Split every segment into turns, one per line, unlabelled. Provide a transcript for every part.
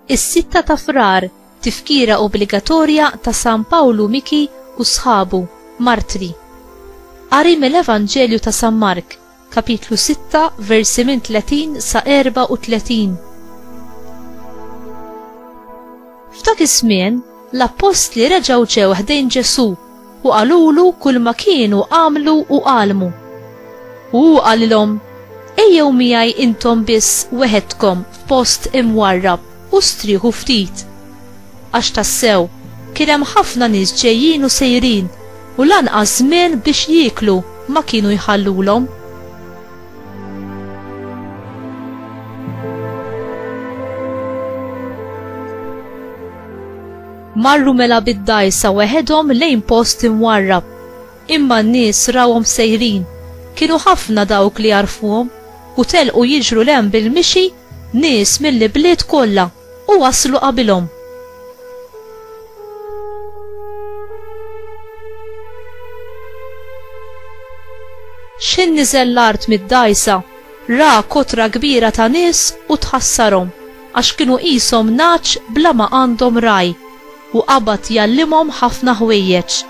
Is-sitta ta' frar tifkira obbligatorja ta' San Pawlu Miki u sħabu, martri. Qari mill-Evanġelju ta' San Mark, Kapitlu 6, versi minn 30 sa 34. F'dak iż-żmien, l-appostli reġgħu ġew ħdejn Ġesù u qalulu kull ma kienu għamlu u għalmu. U hu qalilhom, Ejjew miegħi intom biss weħedkom f'post imwarrab u strieħu ftit. Għax tassew, kien hemm ħafna nies ġejjin u sejrin u lanqas żmien biex jieklu ma kienu jħallulhom. Marru mela bid-dgħajsa weħedhom lejn post imwarrab. Imma n-nies rawhom sejrin. Kienu ħafna dawk li jarfuhom u telqu jiġru l hemm bil-mixi Nies mill-ibliet kollha, u waslu qabilhom. X'ħin niżel l-art mid-dgħajsa, ra kotra kbira ta' nies u tħassarhom, għax kienu qishom nagħaġ bla ma għandhom ragħaj, u qabad jgħallimhom ħafna ħwejjeġ.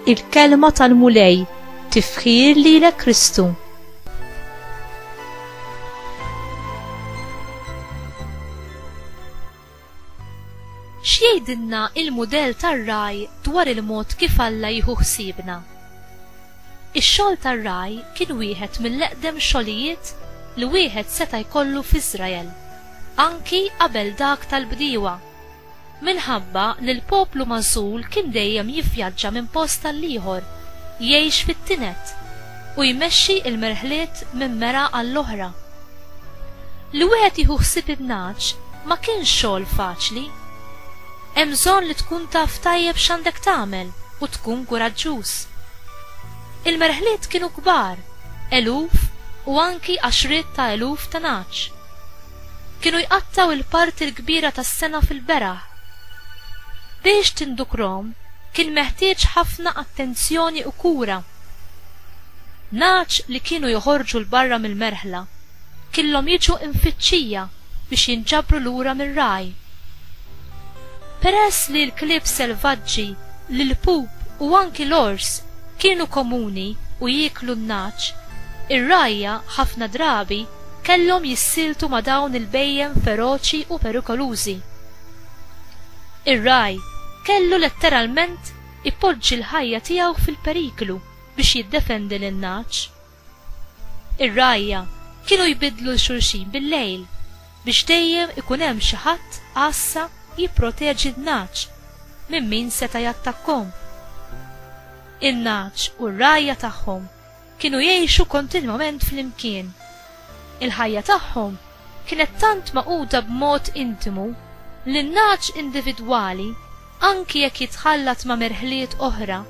Il-Kelma tal-Mulej tifħir lilek Kristu. X'jgħidilna l-mudell tar-ragħaj dwar il-mod kif Alla jieħu ħsiebna? Ix-xogħol tar-ragħaj kien wieħed mill-eqdem xogħlijiet li wieħed seta' jkollu f'Iżrael, anki qabel dak tal-bdiewa. Minħabba li l-poplu magħżul kien dejjem jivvjaġġa minn post għall-ieħor, jgħix fit-tined, u jmexxi l-merħliet minn mera għall-oħra. Li wieħed jieħu ħsieb in-nagħaġ ma kienx xogħol faċli. Hemm bżonn li tkun taf tajjeb x'għandek tagħmel u tkun kuraġġuż. Il-merħliet kienu kbar, eluf u anki għaxriet ta' eluf ta' nagħaġ. Kienu jqattgħu il-parti l-kbira tas-sena fil-beraħ. Biex tindukrhom kien meħtieġ ħafna attenzjoni u kura. Nagħaġ li kienu joħorġu 'l barra mill-merħla killhom jiġu imfittxija biex jinġabru lura mir-ragħaj. Peress li l-klieb selvaġġi, l-ilpup u anki l-ors kienu komuni u jieklu n-nagħaġ, ir-rgħajja ħafna drabi kellhom jissieltu ma' dawn il-bhejjem feroċi u perikolużi. Ir-ragħaj kellu letteralment ipoġġi l-ħajja tiegħu fil-periklu biex jiddefendi lin-nagħaġ. Ir-rgħajja kienu jbiddlu 'l xulxin bil-lejl biex dejjem ikun hemm xi ħadd għassa jipproteġi n-nagħaġ minn min seta' jattakkhom. In-nagħaġ u r-rgħajja tagħhom Kienu jgħixu kontinwament flimkien. Il-ħajja tagħhom kienet tant magħquda b'mod intimu li n-nagħaġ individwali, anki jekk jitħallat ma' merħliet oħra,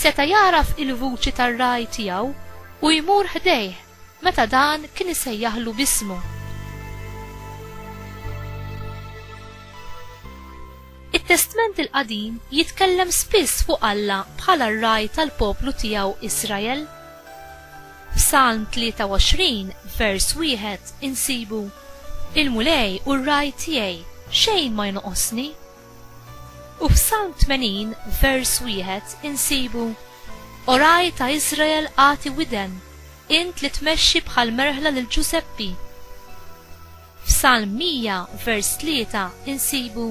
seta' jagħraf il-vuċi tar-ragħaj tiegħu u jmur ħdejh meta dan kien isejjaħlu b'ismu. It-Testment il-Qadim jitkellem spiss fuq Alla bħala r-Ragħaj tal-poplu tiegħu Israel. F'Salm 23, vers wieħed, insibu, Il-Mulej hu r-Ragħaj tiegħi, xejn ma jnoqosni. U f'Salm 80, vers wieħed, insibu, O Ragħaj ta' Israel agħti widen, int li tmexxi bħall-merħla lil Ġużeppi. F'Salm 100 vers 3 insibu,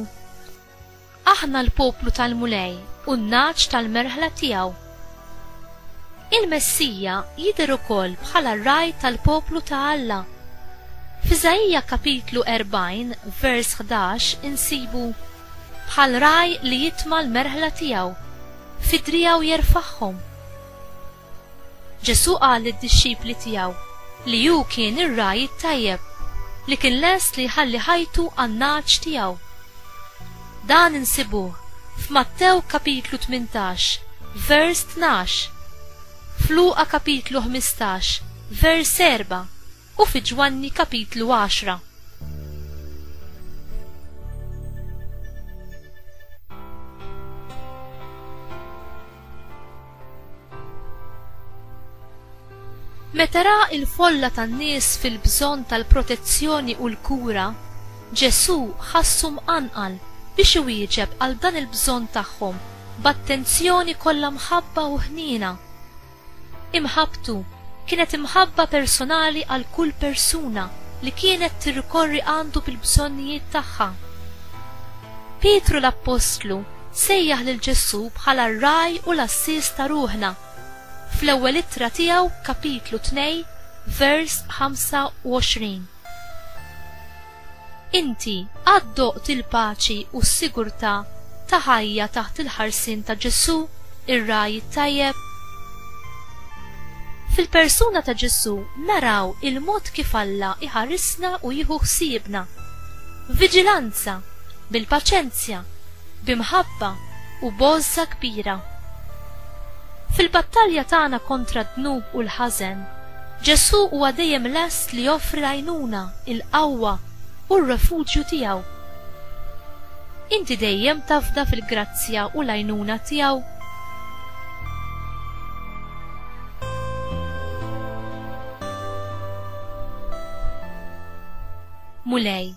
Aħna l-poplu tal-Mulej u n-nagħaġ tal-merħla tiegħu. Il-Messija jidher ukoll bħala r-ragħaj tal-poplu ta' Alla. F'Iżaija kapitlu 40 vers 11 insibu, Bħal ragħaj li jitma' l-merħla tiegħu, fi driegħu jerfagħhom. Ġesù qal lid-dixxipli tiegħu li hu kien ir-ragħaj it-tajjeb li kien lest li jħalli ħajtu għan-nagħaġ tiegħu. Dan insibuh f'Mattew kapitlu tmintax, vers tnax, f'Luqa kapitlu ħmistax, vers erba' u fi Ġwanni kapitlu għaxra. Meta ra l-folla tan-nies fil-bżonn tal-protezzjoni u l-kura, Ġesù ħassu mqanqal biex iwieġeb għal dan il-bżonn tagħhom b'attenzjoni kollha mħabba u ħniena. Imħabbtu kienet imħabba personali għal kull persuna li kienet tirrikorri għandu bil-bżonnijiet tagħha. Pietru l-appostlu sejjaħ lil Ġesù bħala r-Ragħaj u l-Għassies ta' ruħna. Fl-ewwel ittra tiegħu, kapitlu tnej, vers 25. Inti qatt doqt il-paċi u s-sigurtà ta' ħajja taħt il-ħarsien ta' Ġesù, ir-Ragħaj it-Tajjeb? Fil-persuna ta' Ġesù naraw il-mod kif Alla jħarisna u jieħu ħsiebna. Viġilanza! bil-paċenzja, bi mħabba u b'għożża kbira. Fil-battalja tagħna kontra d-dnub u l-ħażen, Ġesù huwa dejjem lest li joffri l-għajnuna, il-qawwa u r-refuġju tiegħu. Inti dejjem tafda fil-grazzja u l-għajnuna tiegħu? Mulej,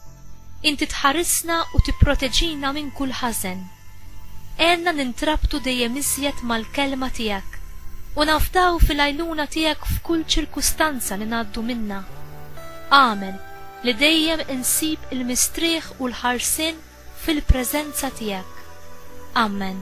Inti tħarisna u tipproteġina minn kull ħażen. Għenna nintrabtu dejjem iżjed mal-Kelma tiegħek u nafdaw fil-għajnuna tiegħek f'kull ċirkustanza li ngħaddu minnha. Agħmel li dejjem insib il-mistrieħ u l-ħarsien fil-preżenza tiegħek. Ammen.